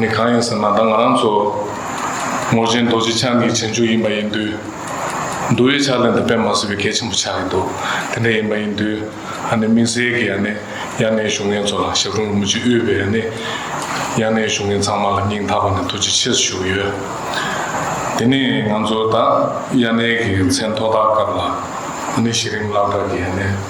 ནི་གང་ཡིན་ཟེར་ན་ད་ང་རང་ཚོ་ངོར་ཆེན་རྡོ་རྗེ་འཆང་གི་བྱང་ཆུབ་ཡིན་པ་ཡིན་དུས། འདུལ་བའི་ཕྱག་ལེན་དུ་དཔེ་མ་བཟོད་པའི་གལ་ཆེན་པོ་ཆགས་ཀྱི་འདུག་དེ་འདྲ་ཡིན་པ་ཡིན་དུས་ཨ་ནི་དམིགས་བསལ་གྱིས་ཨ་ནི་དབྱར་གནས་བཞུགས་མཁན་ཚོ་ལ་ཞབས་དྲུང་རིན་པོ་ཆེ་དབུས་པའི་ཨ་ནི་དབྱར་གནས་བཞུགས་མཁན་ཚང་མ་ལ་སྙིང་ཐག་པ་ནས་ཐུགས་རྗེ་ཆེ་ཞུ་གི་ཡོད། དེ་ནི་ང་ཚོ་ད་དབྱར་གནས་ཀྱི་མཚན་ཐོག་ཐག་སྐབས་ལ་ཨ་ནི་གཞི་རིམ་བླ་གྲྭ་གྱི་ཨ་ནི།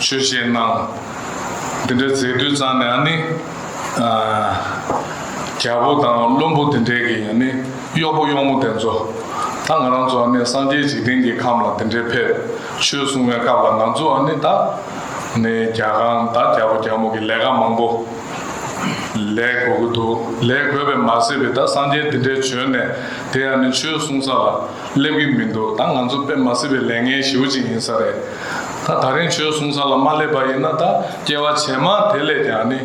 ཆོས་བཤད་གནང། འདི་འདྲ་མཛད་དུས་ཙང་ནས་ཨ་ནི། རྒྱལ་པོ་དང་བློན་པོ་འདི་འདྲས་ཀྱི་ཡང་ནི་གཡོག་པོ་གཡོག་མོ་དེ་ཚོ། ད་ང་རང་ཚོ་ཨ་ནི་སངས་རྒྱས་འཇིག་རྟེན་གྱི་ཁམས་ལ་འདི་འདྲས་ཕེབས་ཆོས་གསུང་བའི་སྐབས་ལ་ང་ཚོ་ཨ་ནི་ད་ནི་རྒྱ་གང་ད་རྒྱ་པོ་རྒྱ་མོ་གི་ལས་ཀ་མང་པོ་ལས་དགོས་ཀྱི་འདུག་ལས་དགོས་པས་མ་ཟད་པའི་ད་སངས་རྒྱས་འདི་འདྲས་བྱོན་ནས་དེ་ཨ་ནི་ཆོས་གསུང་ས་ལ་སླེབས་ཀྱི་མི་འདུག་ད་ང་ཚོ་དཔེ་མ་སྲིད་པའི་ལས་ངན་ཞིའུ་ཅིག་ཡིན་ས་རེད། ད་ད་རིང་ཆོས་གསུང་ས་ལ་མ་སླེབས་པ་ཡིན་ན་ད་སྐྱེ་བ་ཇེ་མང་དེ་ལས་ཀྱང་ནི་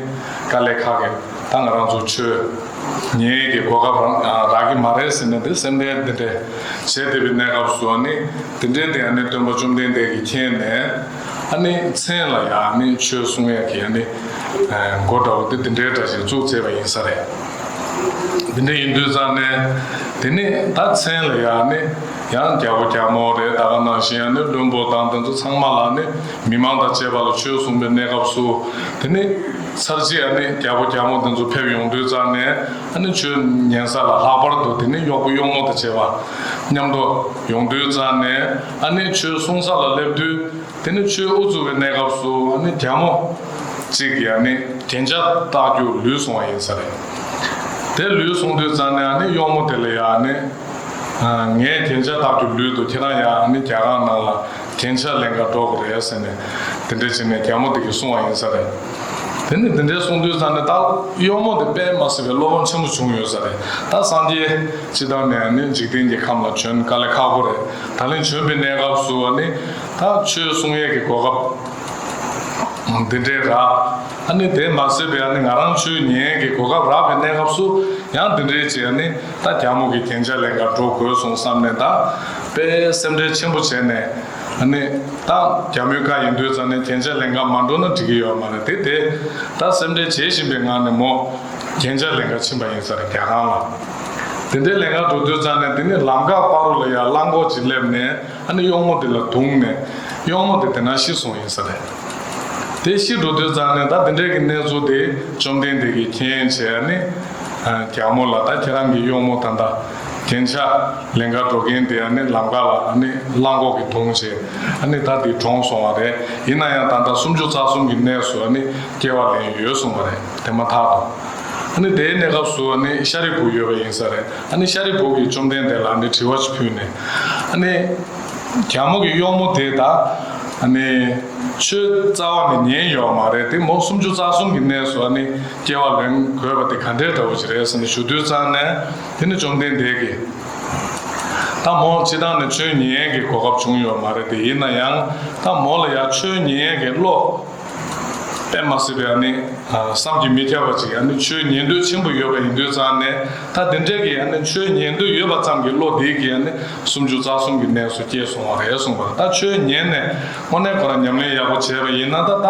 དཀའ་ལས་ཁག་གི་ད་ང་རང་ཚོ་ཆོས་ཉན་གི་གོ་སྐབས་རང་རག་གི་མ་རེད་ཟེར་ནས་དེ་སེམས་ཁྲལ་འདི་འདྲའི་བྱེད་བདེ་བའི་གནས་སྐབས་སུ་ནི་དེ་འདྲའི་དེ་ཡང་ནི་སྟོན་པ་བཅོམ་ལྡན་འདས་ཀྱི་མཁྱེན་ནས་ཨ་ནི་མཚན་ལ་ཡང་ནི་ཆོས་གསུང་ཡ་གི་ཡང་ནི་མགོ་འདྲ་བོ་དེ་འདི་འདྲའི་འདྲ་ཞིག་བཙུགས་ཚེས་པ་ཡིན་ས་རེད། དེ་འདྲ་ཡིན་དུས་ཙང་ནས་དེ་ནི་ད་མཚན་ལ་ཡང་ནི། ཡང་རྒྱ་བོ་རྒྱ་མོ་རེད་ད་ག་ནང་བཞིན་ཡང་ནི་བློན་པོ་དང་དེ་ཚོ་ཚང་མ་ལ་ནི་མི་མང་དང་བཅས་པ་ལ་ཆོས་གསུངས་པའི་གནས་སྐབས་སུ་དེ་ནི་ཚར་རྗེས་ཨ་ནི་རྒྱ་བོ་རྒྱ་མོ་དེ་ཚོ་ཕེབས་ཡོང་དུས་ཙང་ནས་ཨ་ནི་ཆོས་ཉན་ས་ལ་ལྷག་པར་དུ་དེ་ནི་གཡོག་པོ་གཡོག་མོ་དང་བཅས་པ་མཉམ་དུ་ཡོང་དུས་ཙང་ནས་ཨ་ནི་ཆོས་གསུངས་ས་ལ་སླེབས་དུས་དེ་ནི་ཆོས་དབུ་བཙུགས་པའི་གནས་སྐབས་སུ་ཨ་ནི་རྒྱ་མོ་གཅིག་གིས་ཨ་ནི། རྒྱན་ཆ་བཏགས་རྒྱུ་ལུས་བཟུང་བ་ཡིན་ས་རེད། དེ་ལུས་བཟུང་དུས་ཙང་ནས་ཨ་ནི་གཡོག་མོ་དེ་ལ་ཡང་ཨ་ནི། ངས་དེ་འཆར་བདག་གི་ལུས་འདུག་ཁྱེད་རང་ཡང་ནི་རྒྱ་གང་ནང་ལ་དེ་འཆར་ལན་འགའ་སྒྲོག་གི་རེད་ཟེར་ནས་དེ་འདྲས་བྱས་ནས་རྒྱ་མོ་དེ་གི་གསུང་བ་ཡིན་ས་རེད། དེ་ནས་དེ་འདྲས་གསུང་དུས་ཙང་ནས་ད་གཡོག་མོ་དེ་པད་མ་སེར་བའི་བློ་ཕམ་ཆེན་པོ་བྱུང་ཡོད་ས་རེད་ད་སངས་རྒྱས་སྤྱི་དང་ནས་ནི་འཇིག་རྟེན་གྱི་ཁམས་ལ་བྱོན་ག་ལེ་ཁག་པོ་རེད་ད་ལན་བྱོན་པའི་གནས་སྐབས་སུ་བ་ནི་ད་ཆོས་གསུང་ཡས་ཀྱི་གོ་སྐབས་དེ་འདྲས་རག་ཨ་ནི་དེ་མ་ཟེར་བའི་ཨ་ནི་ང་རང་ཆོས་ཉན་གྱི་གོ་སྐབས་རག་པའི་གནས་སྐབས་སུ་ཡང་དེ་འདྲས་བྱས་ཨ་ནི། ད་རྒྱ་མོ་གི་གན་ཆ་ལས་འགར་འགྲོ་དགོས་སོང་བསམ་ནས་ད་པས་སེམས་ཁྲལ་ཆེན་པོ་བྱས་ནས། ནི། ད་རྒྱ་མོའི་ཁ་ཡིན་དུས་ཙམ་ནས་གན་ཆ་ལས་འགར་མ་འགྲོ་ན་འགྲིག་གི་ཡོད་མ་རེད་དེ་དེ། ད་སེམས་ཁྲལ་བྱེད་བཞིན་པའི་ངང་ནས་མོ། གན་ཆ་ལས་འགར་ཕྱིན་པ་ཡིན་ས་རེད་རྒྱ་ཁང་ལ། དེ་འདྲའི་ལས་འགར་འགྲོ་དུས་ཙམ་ནས་དེ་ནི་ལམ་འགག་སྤ་རོ་ལ་ཡར་བླངས་འགོག་ཅིག་སླེབས་ནས། ཨ་ནི་གཡོག་མོ་དེ་ལ་དུངས་ནས་གཡོག་མོ་དེ་དེ་ན་ཤི་སོང་ཡིན་ས་རེད། དེ་ཤི་འགྲོ་དུས་ཙང་ནས་ད་དེ་འདྲས་ཀྱི་གནས་ཚུལ་དེ་བཅོམ་ལྡན་འདས་ཀྱིས་མཁྱེན་བྱས་ཨ་ནི་རྒྱལ་མོ་ལ་ད་ཁྱེད་རང་གི་གཡོག་མོ་ད་ད་གན་ཆ་ལེན་ཁར་འགྲོ་གིན་དེ་ཨ་ནི་ལམ་ཁ་ལ་ཨ་ནི་གླང་གོག་གིས་དུངས་བྱས་ཨ་ནི་ད་དེ་གྲོངས་སོང་བ་རེད་ཡིན་ན་ཡང་ད་ད་སུམ་ཅུ་རྩ་གསུམ་གྱི་གནས་སུ་ཨ་ནི་སྐྱེ་བ་ལེན་ཡོད་གསུངས་པ་རེད་དེ་མ་ཐག་ཏུ་ཨ་ནི་དེའི་གནས་སྐབས་སུ་ཨ་ནི་ཤཱ་རིའི་བུ་ཡོད་པ་ཡིན་ས་རེད། ཨ་ནི་ཤཱ་རིའི་བུ་གིས་བཅོམ་ལྡན་འདས་ལ་འདི་དྲི་བ་ཅིག་ཕུལ་ནས། ཨ་ནི། རྒྱ་མོ་གི་གཡོག་མོ་དེ་དག། ཨ་ནི། ཆོས་རྩ་བ་ནི་ཉན་ཡོད་བ་མ་རེད་དེ་མོ་སུམ་ཅུ་རྩ་གསུམ་གྱི་གནས་སུ་ཨ་ནི་སྐྱེ་བ་ལེན་དགོས་པ་དེ་ག་འདྲའི་དགྲ་བོ་ཅིག་རེད་ས་ནི་ཞུ་དུས་ཙང་ནས་དེ་ནི་བཅོམ་ལྡན་འདས་ཀྱིས། ད་མོ་ཅི་ད་ནི་ཆོས་ཉན་ཡས་ཀྱི་གོ་སྐབས་བྱུང་ཡོད་བ་མ་རེད་དེ་ཡིན་ན་ཡང་ད་མོ་ལ་ཡང་ཆོས་ཉན་ཡས་ཀྱི་བློ། པད་མ་སྲིད་པའི་ཡང་ནི་བསམ་གྱིས་མི་ཁྱབ་པ་ཅིག་ཡང་ནི་ཆོས་ཉན་འདོད་ཆེན་པོ་ཡོད་པ་ཡིན་དུས་ཙམ་ནས་ད་དེ་འདྲའི་གི་ཡང་ནི་ཆོས་ཉན་འདོད་ཡོད་པ་ཙམ་གྱི་བློ་དེས་གི་ཡང་ནི་སུམ་ཅུ་རྩ་གསུམ་གྱི་གནས་སུ་སྐྱེས་སོང་བ་རེད་གསུངས་པར་ད་ཆོས་ཉན་ནས་དངོས་གནས་ཁོ་རང་ཉམས་ལེན་ཡག་པོ་བྱས་པ་ཡིན་ན་ད་ད་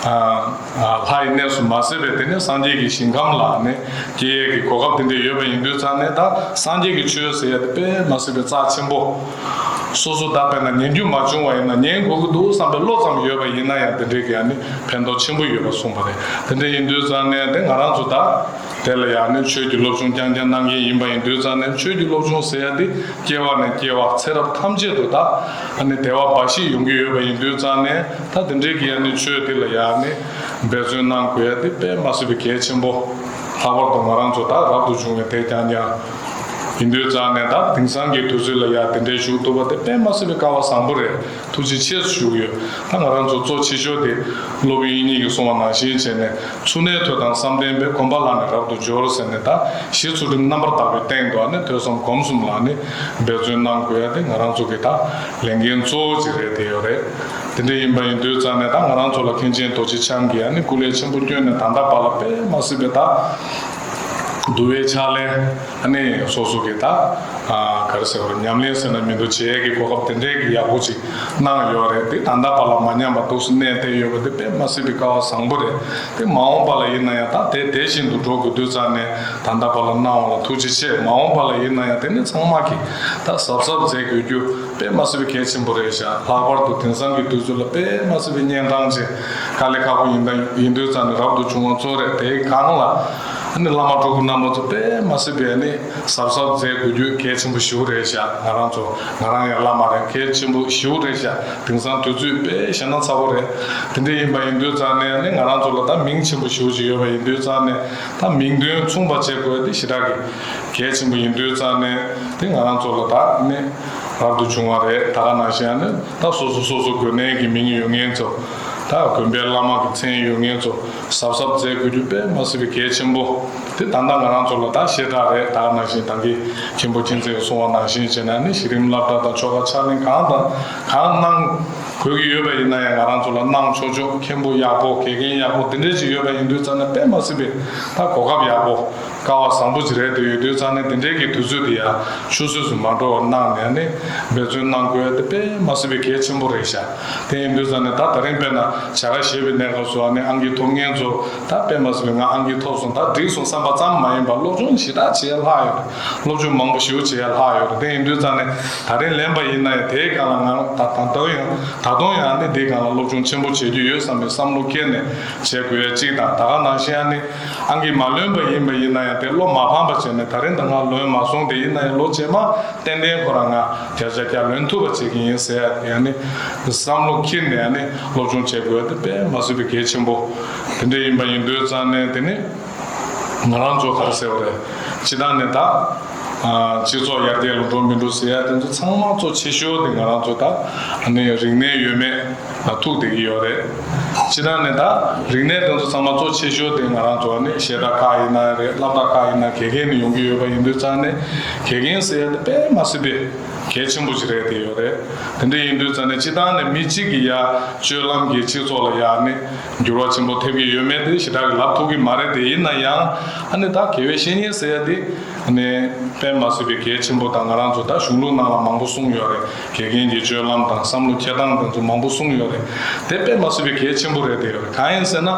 ལྷའི་གནས་སུ་མ་ཟད་པའི་དེ་ནས་སངས་རྒྱས་ཀྱི་ཞིང་ཁམས་ལ་ནི་སྐྱེ་ཡས་ཀྱི་གོ་སྐབས་དེ་འདྲས་ཡོད་པ་ཡིན་དུས་ཙམ་ནས་ད་སངས་རྒྱས་ཀྱི་ཆོས་ཟེར་ཡས་དེ་པད་མ་སྲིད་པའི་རྩ་ཆེན་པོ། སོ་སོ་བདག་བས་ན་ཉན་རྒྱུ་མ་བྱུང་བ་ཡིན་ན་ཉན་དགོས་ཀྱི་འདུག་བསམ་པའི་བློ་ཙམ་ཡོད་པ་ཡིན་ན་ཡང་དེ་འདྲའི་ཡང་ནི་ཕན་ཐོགས་ཆེན་པོ་ཡོད་པ་གསུངས་པ་རེད་དེ་འདྲ་ཡིན་དུས་ཙང་ནས་དེ་ང་རང་ཚོ་དག་དེ་ལ་ཡང་ནི་ཆོས་ཀྱི་སློབ་ཆུང་རྐྱང་རྐྱང་གནང་མཁན་ཡིན་པ་ཡིན་དུས་ཙང་ནས་ཆོས་ཀྱི་སློབ་ཆུང་ཟེར་ཡ་འདི་སྐྱེ་བ་ནས་སྐྱེ་བ་ཚེ་རབས་ཐམས་ཅད་དུ་དག་ནི་དལ་བ་འབའ་ཞིག་ཡོང་གི་ཡོད་པ་ཡིན་དུས་ཙང་ནས་ད་དེ་འདྲའི་གི་ཡང་ནི་ཆོས་འདི་ལ་ཡང་ནི་འབད་བརྩོན་གནང་དགོས་ཡ་འདི་དཔེ་མ་སྲིད་པའི་གལ་ཆེན་པོ་ལྷག་པར་དུ་ང་རང་ཚོ་དག་རབ་ཏུ་བྱུང་བའི་དེས་ཀྱང་ཀྱང། ཡིན་དུས་རྩ་ནས་ད་དེང་སང་གི་དུས་ཚོད་ལ་ཡག་དེ་འདྲའི་ཞུགས་ཐུབ་པ་དེ་དཔེ་མ་སྲིད་པའི་ཀ་བ་བཟང་པོ་རེད་ཐུགས་རྗེ་ཆེ་ཞུ་གི་ཡོད་ད་ང་རང་ཚོ་གཙོ་ཆེ་ཤོས་དེ་སློབ་ཡོན་གཉིས་ཀྱི་སྲུང་བ་ནང་བཞིན་བྱས་ནས་ཚུར་གནས་ཐོད་དང་བསམ་གཏན་པའི་གོམ་པ་ལག་ནས་རབ་ཏུ་འབྱོར་ཟེར་ནས་ད་གཞི་ཚུལ་ཁྲིམས་རྣམ་པར་དག་པའི་སྟེང་དུ་ནས་ཐོད་གསུམ་གོམ་གསུམ་ལ་ནས་འབད་བརྩོན་གནང་དགོས་ཡ་དེ་ང་རང་ཚོ་གི་ད་ལས་འགན་གཙོ་བོ་གཅིག་རེད་དེ་ཡོད་རེད་དེ་འདྲ་ཡིན་པ་ཡིན་དུས་རྩ་ནས་ད་ང་རང་ཚོ་ལ་མཁན་ཆེན་རྡོ་རྗེ་འཆང་གི་ཡ་ནས་སྐུ་ལས་ཆེན་པོ་བསྐྱོན་ནས་ད་ད་པ་ལ་དཔེ་མ་སྲིད་པའི་ད་བསྡུ་བའི་ཕྱག་ལེན། གནས་ཡིན་སོ་སོ་གི་ད་ག་རེ་ཟེར་བ་རེད་ཉམས་ལེན་ཟེར་ན་མི་འདུག་བྱེད་ཡས་ཀྱི་གོ་སྐབས་དེ་འདྲས་ཀྱི་ཡག་པོ་ཅིག་གནང་ཡོད་རེད་འདི་ད་ལྟ་བར་ལ་མ་ཉམས་པ་འདུག་སེམས་གནས་དེ་ཡོད་པ་དེ་དཔེ་མ་སྲིད་པའི་ཀ་བ་བཟང་པོ་རེད་དེ་མ་འོངས་པ་ལ་ཡིན་ན་ཡང་ད་དེ་དེ་བཞིན་དུ་འགྲོ་དགོས་དུས་ཙང་ནས་ད་ལྟ་བར་ལ་གནང་བ་ལ་ཐུགས་རྗེ་ཆེ་མ་འོངས་པ་ལ་ཡིན་ན་ཡང་དེ་ནས་ཚང་མ་གི་ད་གཟབ་གཟབ་མཛད་དགོས་རྒྱུ་དཔེ་མ་སྲིད་པའི་གལ་ཆེན་པོ་རེད་ཞག་ལྷག་པར་དུ་དེང་སང་གི་དུས་ཚོད་ལ་དཔེ་མ་སྲིད་པའི་གཉན་འཕྲང་ཅན། ག་ལས་ཁག་པོ་ཡིན་ད་ཡིན་དུས་ཙམ་ནས་རབ་ཏུ་བྱུང་བ་གཙོ་རེད་དེ་གང་ལ། ནི་བླ་མ་གྲོགས་པོ་རྣམ་པ་ཚོ་དཔེ་མ་སྲིད་པའི་ནི་ཟབ་ཟབ་མཛད་དགོས་རྒྱུ་གལ་ཆེན་པོ་ཞིའུ་རེད་བཞག་ང་རང་ཚོ་ང་རང་ཡང་བླ་མ་རེད་གལ་ཆེན་པོ་ཞིའུ་རེད་བཞག་དེང་སང་དུས་ཚོད་དཔེ་བཞག་ན་ཚ་བོ་རེད་དེ་འདྲ་ཡིན་པ་ཡིན་དུས་ཙམ་ནས་ནི་ང་རང་ཚོ་ལ་ད་མིང་ཆེན་པོ་ཞིའུ་ཞིག་ཡོད་པ་ཡིན་དུས་ཙམ་ནས་ད་མིང་དོན་མཚུངས་པ་བྱེད་དགོས་དེ་ཞེ་དྲག་གི་གལ་ཆེན་པོ་ཡིན་དུས་ཙམ་ནས་དེ་ང་རང་ཚོ་ལ་ད་ནི་རབ་ཏུ་བྱུང་བ་རེད་ད་ག་ནང་བཞིན་ཡང་ནི། ད་སོ་སོ་སོ་སོ་དགོན་གནས་ཀྱི་མིང་ཡོད་ངན་ཚོ་དང་དགོན་པའི་བླ་མ་གི་མཚན་ཡོད་ངན་ཚོ་གཟབ་གཟབ་མཛད་དགོས་རྒྱུ་དཔེ་མ་སྲིད་པའི་གལ་ཆེན་པོ་དེ་ད་ལྟ་ང་རང་ཚོ་ལ་ད་ཞེ་དྲག་རེད་དག་ནང་བཞིན་དང་གི་མཁན་པོ་སྤྱི་མཚན་གྱི་གསུང་བ་ནང་བཞིན་བྱེད་ན་ནི་གཞི་རིམ་བླ་བྲ་དང་ཆོ་ག་ཕྱག་ལེན་གང་དང་གང་གནང་དགོས་ཀྱི་ཡོད་པ་ཡིན་ན་ཡང་ང་རང་ཚོ་ལ་གནང་ཆོག་ཆོག་མཁན་པོ་ཡག་པོ་དགེ་རྒན་ཡག་པོ་འདི་འདྲས་ཅིག་ཡོད་པ་ཡིན་དུས་ཙམ་ན་དཔེ་མ་སྲིད་པའི་ད་གོ་སྐབས་ཡག་པོ། ཀ་བ་བཟང་པོ་ཅི་རེད་དེ་ཡོད་དུས་ཚང་ནས་དེ་འབྲེལ་གྱི་དུས་ཚོད་དེ་ཡང་ཆུད་ཟོས་སུ་མ་འགྲོ་བར་གནང་ནས་ནི་འབད་བརྩོན་གནང་དགོས་དེ་དཔེ་མ་སྲིད་པའི་གལ་ཆེན་པོ་རེད་ཤག་དེ་ཡིན་དུས་ཚང་ནས་ད་ད་རིང་དཔེར་ན་བྱ་དགའ་བཞེས་པའི་གནས་སྐབས་སུའང་ནི་ཨང་ཀི་ཐོབ་ངན་ཚོ་ད་དཔེ་མ་སྲིད་པའི་ང་ཨང་ཀི་ཐོབ་སོང་ད་འགྲིག་སོང་བསམ་པ་ཙམ་མ་ཡིན་པར་སློབ་སྦྱོང་ཞེ་དྲག་བྱེད་ཡ་ལྷག་ཡོད་རེད་སློབ་སྦྱོང་མང་པོ་ཞིའུ་བྱེད་ཡ་ལྷག་ཡོད་རེད་དེ་ཡིན་དུས་ཚང་ནས་ད་རིང་ལན་པ་ཡིན་ན་ཡང་དེའི་སྒང་ལ་ང་རང་ད་ད་དུང་ཡང་ད་དུང་ཡང་ནི་འདིའི་སྒང་ལ་སློབ་སྦྱོང་ཆེན་པོ་བྱེད་རྒྱུ་ཡོད་བསམ་པའི་བསམ་བློ་སྐྱེས་ནས་བྱེད་དགོས་ཡ་གཅིག་དང་ད་ག་ནང་བཞིན་ཡང་ནི། ཨང་ཀིས་མ་ལོན་པ་ཡིན་པ་ཡིན་ན་ཡང་དེ་བློ་མ་ཕམ་པ་བྱས་ནས་ད་རིང་ད་སྔ་ལོན་མ་སོང་དེ་ཡིན་ན་ཡང་ལོ་རྗེས་མ་ཏན་ཏན་ཁོ་རང་ང་བརྒྱ་ཆ་བརྒྱ་ལོན་ཐུབ་པ་བྱེད་ཀྱི་ཡིན་ཟེར་ཡ་ཡང་ནི་བསམ་བློ་འཁྱེར་ནས་ཡང་ནི་སློབ་སྦྱོང་བྱེད་དགོས་དེ་དཔེ་མ་བཟོད་པའི་གལ་ཆེན་པོ་དེ་འདྲས་ཡིན་པ་ཡིན་དུས་ཙང་ནས་དེ་ནི་ང་རང་ཚོ་གར་ཟེར་བ་རེད་སྤྱི་དང་ནི་ད་སྤྱི་ཚོགས་ཡར་རྒྱས་ལ་འགྲོ་མི་འགྲོ་ཟེར་ཡ་དེ་ཚོ་ཚང་མ་གཙོ་ཆེ་ཤོས་དེ་ང་རང་ཚོ་ད་ནི་རིག་གནས་ཡོད་མེད། ཐུགས་དེ་གི་ཡོད་རེད། ཕྱི་ནང་ནས་ད་རིག་གནས་དེ་ཚོ་ཚང་མ་གཙོ་ཆེ་ཤོས་དེ་ང་རང་ཚོ་ནི་ཞེ་དྲག་ཁག་ཡིན་ན་རེད་བསླབ་གྲྭ་ཁག་ཡིན་ན་དགེ་རྒན་ནི་ཡོང་གི་ཡོད་པ་ཡིན་དུས་ཙང་ནས་དགེ་རྒན་ཟེར་ཡ་དེ་དཔེ་མ་སྲིད་པའི་གལ་ཆེན་པོ་ཞིག་རེད་དེ་ཡོད་རེད་དེ་འདྲ་ཡིན་དུས་ཙང་ནས་སྤྱི་བཏང་ནས་མི་གཅིག་གི་ཡ་སྤྱོད་ལམ་གྱིས་སྤྱི་ཚོགས་ལ་ཡག་ནི་འགྱུར་བ་ཆེན་པོ་ཐེབས་ཀྱི་ཡོད་མེད་དེ་ཞེ་དྲག་གི་ལབ་ཐུབ་ཀྱི་མ་རེད་དེ་ཡིན་ན་ཡང་ཨ་ནི་ད་དགེ་བའི་བཤེས་གཉེན་ཟེར་ཡ་དེ་ནི་དཔེ་མ་སྲིད་པའི་གལ་ཆེན་པོ་ད་ང་རང་ཚོ་ད་གཞུང་ལུགས་ནང་ལ་མང་པོ་གསུངས་ཡོད་རེད། དགེ་རྒན་གྱི་སྤྱོད་ལམ་དང་བསམ་བློ་འཁྱེར་སྟངས་དེ་ཚོ་མང་པོ་གསུངས་ཡོད་རེད། དེ་དཔེ་མ་སྲིད་པའི་གལ་ཆེན་པོ་རེད་དེ། གང་ཡིན་ཟེར་ན།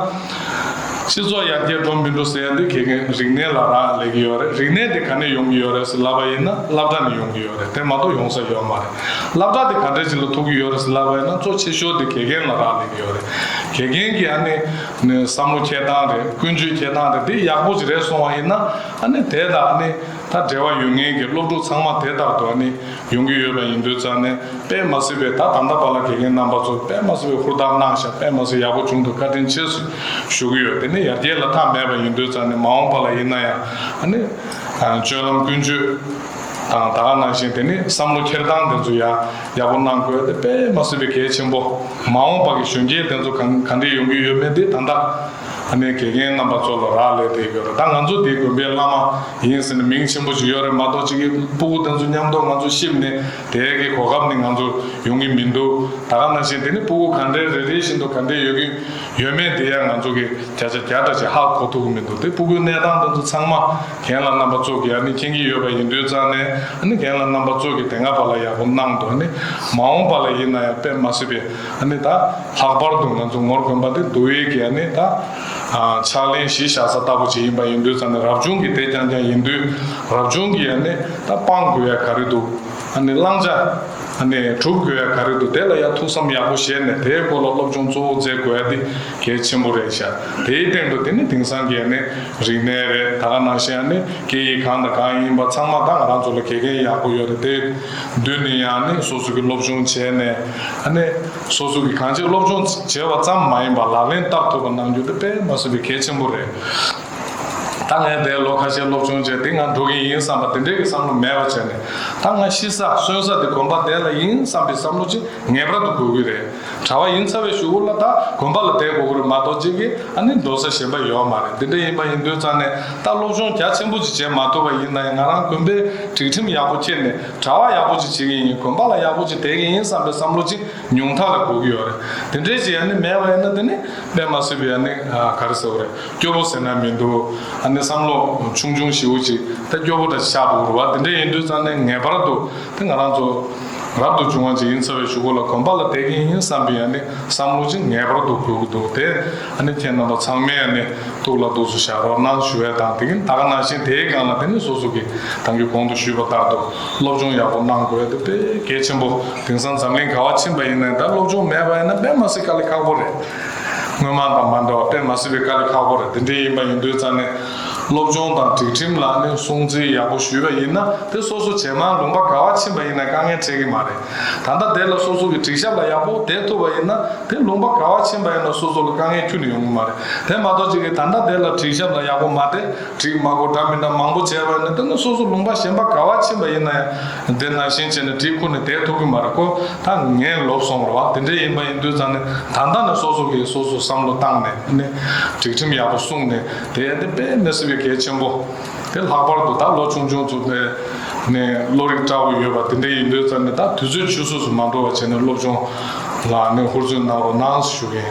སྤྱི་ཚོགས་ཡར་རྒྱས་འགྲོ་མི་འགྲོ་ཟེར་ཡ་འདི་དགེ་རྒན་རིག་གནས་ལ་རག་ལས་ཀྱི་ཡོད་རེད། རིག་གནས་དེ་ག་ནས་ཡོང་གི་ཡོད་རེད་ཟེར་ལབ་པ་ཡིན་ན་སླབ་གྲ་ནས་ཡོང་གི་ཡོད་རེད་དེ་མ་གཏོགས་ཡོང་ས་ཡོད་མ་རེད། སླབ་གྲ་དེ་ག་འདྲས་ཅིག་ལ་ཐུག་གི་ཡོད་རེད་ཟེར་ལབ་པ་ཡིན་ན་གཙོ་ཆེ་ཤོས་དེ་དགེ་རྒན་ལ་རག་ལས་ཀྱི་ཡོད་རེད། དགེ་རྒན་གྱི་ཨ་ནི་བསམ་བློ་འཁྱེར་སྟངས་རེད་ཀུན་སྤྱོད་འཁྱེར་སྟངས་རེད་དེ་ཡག་པོ་ཅིག་རེད་སོང་བ་ཡིན་ན་ཨ་ནི་དེ་དང་ཨ་ནི་ད་འབྲེལ་བ་ཡོད་ངེས་ཀྱི་སློབ་ཕྲུག་ཚང་མ་དེ་ལྟར་དུ་ཨ་ནི་ཡོང་གི་ཡོད་པ་ཡིན་དུས་ཙང་ནས་པད་མ་སེར་པོས་ད་ད་ལྟ་བར་ལ་དགེ་རྒན་རྣམ་པ་ཚོར་པད་མ་སེར་པོའི་ཧུར་ཐག་གནང་ཤག་པད་མ་སེར་ཡག་པོ་བྱུང་འདུག་བཀའ་དྲིན་ཆེ་ཞུ་གི་ཡོད་དེ་ནས་ཡར་རྒྱས་ལ་ཐག་མེད་པ་ཡིན་དུས་ཙང་ནས་མ་འོངས་པ་ལ་ཡིན་ན་ཡང་ཨ་ནི་སྤྱོད་ལམ་ཀུན་སྤྱོད་དང་ད་ག་ནང་བཞིན་དེ་ནས་བསམ་བློ་འཁྱེར་སྟངས་དེ་ཚོ་ཡང་ཡག་པོ་གནང་དགོས་དེ་པད་མ་སེར་པོས་གལ་ཆེན་པོ་མ་འོངས་པ་གི་གཞོན་སྐྱེས་དེ་ཚོ་ག་ག་འདྲས་ཡོང་གི་ཡོད་མེད་དེ་ད་ལྟ། ཨ་ནེ་དགེ་རྒན་རྣམ་པ་ཚོ་ལ་རག་ལས་དེ་ཡོད་ད་ང་ཚོ་འདིའི་དགོན་པའི་བླ་མ་ཡིན་ཟེར་ནས་མིང་ཆེན་པོ་ཞིག་ཡོད་རེད་མ་གཏོགས་སྤྱི་ཁྱིའི་སྤུ་གུ་དེ་ཚོ་ཉམས་རྟོགས་ང་ཚོ་ཤེས་མེད་དེ་གའི་གོ་སྐབས་ནི་ང་ཚོར་ཡོང་གི་མི་འདུག་ད་ག་ན་བཞིན་དེ་ནི་སྤུ་གུ་གང་འདྲའི་རེ་རེ་བཞིན་དུ་ག་འདྲའི་ཡོད་ཀྱི་ཡོད་མེད་དེ་ཡང་ང་ཚོ་གི་བརྒྱ་ཆ་བརྒྱ་ལྟར་ཞིག་ཧ་གོ་ཐུབ་ཀྱི་མི་འདུག་དེ་སྤུ་གུའི་གནས་སྟངས་དེ་ཚོ་ཚང་མ་གན་ལ་རྣམ་པ་ཚོགས་ཀྱིས་ཨ་ནེ་མཁྱེན་གྱི་ཡོད་པ་ཡིན་དུས་ཙང་ནས་ཨ་ནེ་གན་ལ་རྣམ་པ་ཚོགས་ཀྱིས་དེ་སྔ་བར་ལ་ཡག་པོ་གནང་འདུག་ཨ་ནེ་མ་འོངས་པ་ལ་ཡིན་ན་ཡང་དཔེ་མ་སྲིད་པའི། ནི་ད། ལྷག་པར་དུ་ང་ཚོ་ངོར་དགོན་པ་འདི་འདུ་བའི་གལ་ནི་ད། ཕྱག་ལེན་གཞི་བཞག་ས་ལྟ་བུ་ཅིག་ཡིན་པ་ཡིན་དུས་ད་ནི་རབ་བྱུང་གི་དེད་རྐྱང་རྐྱང་ཡིན་དུས། རབ་བྱུང་གི་ནི་ད་སྤང་དགོས་ཡ་ག་རེ་འདུག་ནི་བླང་བྱ། ནི་གྲུབ་དགོས་ཡ་ག་རེ་འདུག་དེ་ལ་ཡ་ཐུགས་བསམ་ཡག་པོ་བཞེས་ནས་དེའི་སྐོར་ལ་སློབ་སྦྱོང་གཙོ་བོ་མཛད་དགོས་ཡ་འདི་གལ་ཆེན་པོ་རེད་ཤག་དེའི་སྟེང་དུ་དེ་ནི་དེང་སང་གི་ནི་རིག་གནས་རེད་ད་ག་ནང་བཞིན་ནི་སྐད་ཡིག་གང་དང་གང་ཡིན་པ་ཚང་མ་ད་ང་རང་ཚོ་ལ་གལ་འགན་ཡག་པོ་ཡོད་རེད་དེ། བདུན་ནི་ཡང་ནི་སོ་སོ་གི་སློབ་སྦྱོང་བྱས་ནས་ནི། སོ་སོ་གི་གང་ཅིའི་སློབ་སྦྱོང་བྱས་བ་ཙམ་མ་ཡིན་པར་ལག་ལེན་བསྟར་ཐུབ་པ་གནང་རྒྱུ་དེ་པད་མ་སྲིན་པོའི་གལ་ཆེན་པོ་རེད། ད་ངས་འདས་ལོ་ཁ་ཤས་སློབ་སྦྱོང་བྱས་འདི་ང་འགྲོ་གི་ཡིན་བསམ་པ་དེ་འདྲའི་གི་བསམ་བློ་མེད་པ་བྱས་ནས་ད་ང་ཤི་ས་གསོན་ས་དེ་དགོན་པ་འདས་ལ་ཡིན་བསམ་པའི་བསམ་བློ་ཅིག་ངེས་པར་དུ་དགོས་ཀྱི་རེད། གྲྭ་བ་ཡིན་ཚར་བའི་ཞུ་བོ་ལ་དྭགས་དགོན་པ་ལ་བསྡད་དགོས་ཀྱི་རེད་མ་གཏོགས་གཅིག་གིས་ཨ་ནི་འགྲོ་ས་གཞན་པ་ཡོད་མ་རེད་འདི་འདྲ་ཡིན་པ་ཡིན་དུས་རྩ་ནས་ད་སློབ་སྦྱོང་རྒྱ་ཆེན་པོ་ཅིག་བྱེད་མ་ཐུབ་པ་ཡིན་ན་ཡང་ང་རང་དགོན་པའི་སྒྲིག་ཁྲིམས་ཡག་པོ་འཁྱེར་ནས་གྲྭ་བ་ཡག་པོ་ཅིག་བྱེད་ཀྱི་ཡིན་དགོན་པ་ལ་ཡག་པོ་ཅིག་དེད་ཀྱི་ཡིན་བསམ་པའི་བསམ་བློ་ཅིག་ཉུང་མཐའ་ལ་འགོག་གི་ཡོད་རེད་འདི་འདྲའི་ཅིག་ཨ་ནི་མེད་པ་ཡིན་ན་དེ་ནི་དཔེ་མ་སྲིད་པའི་ཨ་ནི་ག་རེ་ཟེར་བ་རེད་སྐྱོ་བོ་ཟེར་ན་མི་འདུག་ཨ་ནི་བསམ་བློ་ཆུང་ཆུང་ཞིའུ་ཅིག་ད་སྐྱོ་བོ་འདྲ་ཅིག་ཆགས་འདུག་རེད་བ་འདི་འདྲ་ཡིན་དུས་རྩ་ནས་ངེས་པར་དུ་དེ་ང་རང་ཚོ། རབ་ཏུ་བྱུང་བ་ཅིག་ཡིན་ཚར་བའི་ཞུ་སྒོ་ལ་གོམས་པ་ལ་དད་ཀྱིན་ཡིན་བསམ་པའི་ཡང་ནི་བསམ་བློ་ཅིག་ངེས་པར་དུ་འཁོལ་གྱི་འདུག་དེ་ཡང་ནི་ཁྱེད་རྣམ་པ་ཚང་མའི་ཡང་ནི་ཐུགས་ལ་འདུག་སུ་བཞག་རོགས་གནང་ཞུ་བས་དང་དེ་གིན་དག་གནང་ཞིང་དེའི་སྒང་ལ་དེ་ནི་སོ་སོ་གིས་དང་གི་གོང་དུ་ཞུས་པ་ལྟར་དུ་སློབ་སྦྱོང་ཡག་པོ་གནང་དགོས་འདུག་པས་གལ་ཆེན་པོ་དེང་སང་འཛམ་གླིང་ག་བ་ཕྱིན་པ་ཡིན་ནའི་ད་སློབ་སྦྱོང་མེད་པ་ཡིན་ན་དཔེ་མ་སྲིད་དཀའ་ལས་ཁག་པོ་རེད། སྔོན་མ་དང་མ་འདྲ་བ་དཔེ་མ་སྲིད་པའི་དཀའ་ལས་ཁག་པོ་རེད་འདི་འདྲའི་ཡིན་པ་ཡིན་དུས་ཙང་ནས་སློབ་སྦྱོང་དང་སྒྲིག་ཁྲིམས་ལ་ནི་སྲུང་བརྩི་ཡག་པོ་ཞུས་པ་ཡིན་ན་དེ་སོ་སོ་ཇེ་མང་ལུང་པ་དགའ་བ་ཕྱིན་པ་ཡིན་ན་དཀའ་ངལ་འཕྲད་ཀྱི་མ་རེད། ད་ལྟ་དེ་ལ་སོ་སོ་གི་སྒྲིག་ཞབས་ལ་ཡག་པོ་བསྡད་ཐུབ་པ་ཡིན་ན་དེ་ལུང་པ་དགའ་བ་ཕྱིན་པ་ཡིན་ན་སོ་སོ་ལ་དཀའ་ངལ་ཁྱུར་ནས་ཡོང་གི་མ་རེད་དེ་མ་གཏོགས་ཅིག་གིས་ད་ལྟ་དེ་ལ་སྒྲིག་ཞབས་ལ་ཡག་པོ་མ་བསྡད་སྒྲིག་མ་གོ་འདྲ་མི་འདྲ་མང་པོ་བྱས་པ་ཡིན་ན་དེ་ནི་སོ་སོ་ལུང་པ་གཞན་པ་དགའ་བ་ཕྱིན་པ་ཡིན་ན་ཡང་དེ་ནང་བཞིན་བྱས་ནས་སྒྲིག་ཁུར་ནས་བསྡད་ཐུབ་ཀྱི་མ་རེད་ཁོ་ད་ངས་ལོབས་སོང་བར་བ་དེ་འདྲས་ཡིན་པ་ཡིན་དུས་ཙང་ནས་ད་ལྟ་ནས་སོ་སོ་གིས་སོ་སོ་བསམ་བློ་བཏང་ནས་ནི་སྒྲིག་ཁྲིམས་ཡག་པོ་སྲུང་ནས། དེ་ཡན་ཏན་པས་ནི་སྲིད་པའི་གལ་ཆེན་པོ། དེ་ལྷག་པར་དུ་ད་ལོ་ཆུང་ཆུང་ཚོ་དེ་ནི་བློ་རིག་བཀྲ་བོ་ཡོད་པ་དེ་འདྲའི་ཡིན་དུས་ཙམ་ནས་ད་དུས་ཚོད་ཆུད་ཟོས་སུ་མ་འགྲོ་བ་བྱས་ནས་སློབ་ཆུང་ལ་ནི་ཧུར་བརྩོན་གནང་རོགས་གནང་ཞུ་གིན།